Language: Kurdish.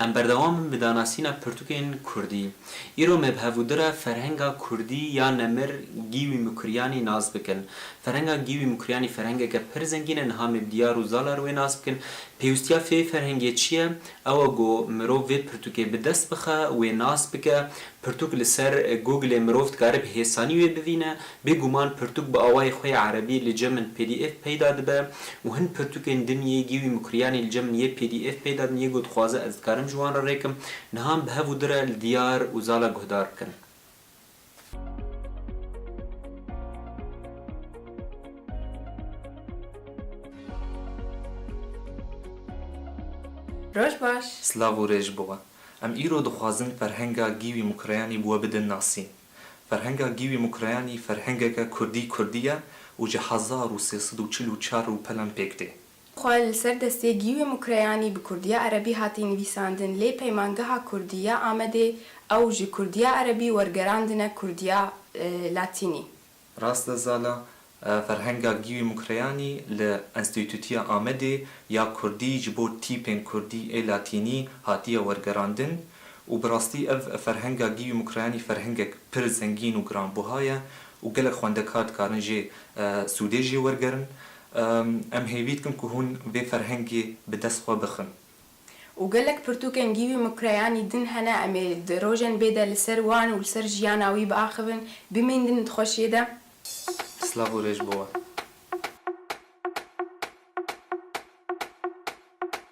Em berdewam in bi danasîna pirtûkên kurdî. Îro me bi hevûdira ferhenga kurdî ya nemir Gîwî Mûkiryanî nas bikin. Ferhenga Gîwî Mûkiryanî ferhengeke pir zengîn e, niha me bi diyar û zalar wê nas bikin. Pêwîstiya vê ferhengê çi ye? Ew e ku mirov vê pirtûkê bi dest bixe, wê nas bike. Pirtûk li ser Google-ê mirov dikare bi hêsanî wê bivîne, Bê guman pirtûk bi awayê xwe yê erebî li cem in pdf peyda dibe û hin pirtûkên din yê Gîwî Mukriyanî li cem in yê pdf peyda din yê ku dixwaze ez dikarim ji wan re rêkim nihan bi hev û di re li diyar û zala guhdar bikin. Roj baş. Silav û rê ji bo we. Em îro dixwazin ferhenga Gîwî Mukriyanî bi we bidin nasîn. Ferhenga Gîwî Mokrayanî ferhengeke kurdî kurdî ye û ji hezar û sê sed û çil û çar rûpelan pêk tê. Xwe li ser destê Gîwî Mokrayanî bi kurdiya erebî hatî nivîsandin lê Peymangeha Kurdî ya Amedê ew ji kurdiya erebî wergerandine kurdiya latînî. Rast e Zala, Ferhenga Gîwî Mukreyanî li Enstîtûtiya Amedê ya Kurdî ji bo tîpên Kurdî ê Latînî hatiye wergerandin û bi rastî ev Ferhenga Gîwî Mukreyanî ferhengek pir zengîn û giranbuha ye û gelek xwendekar dikarin jê sûdê jê wergerin. Em hêvî dikim ku hûn vê ferhengê bi dest xwe bixin. Û gelek pirtûkên gîwî mukreyanî din hene, em ê di rojên bê de li ser wan û li ser jiyana wî biaxivin, bimîndin di xweşiyê de. Silav û rêj bo we.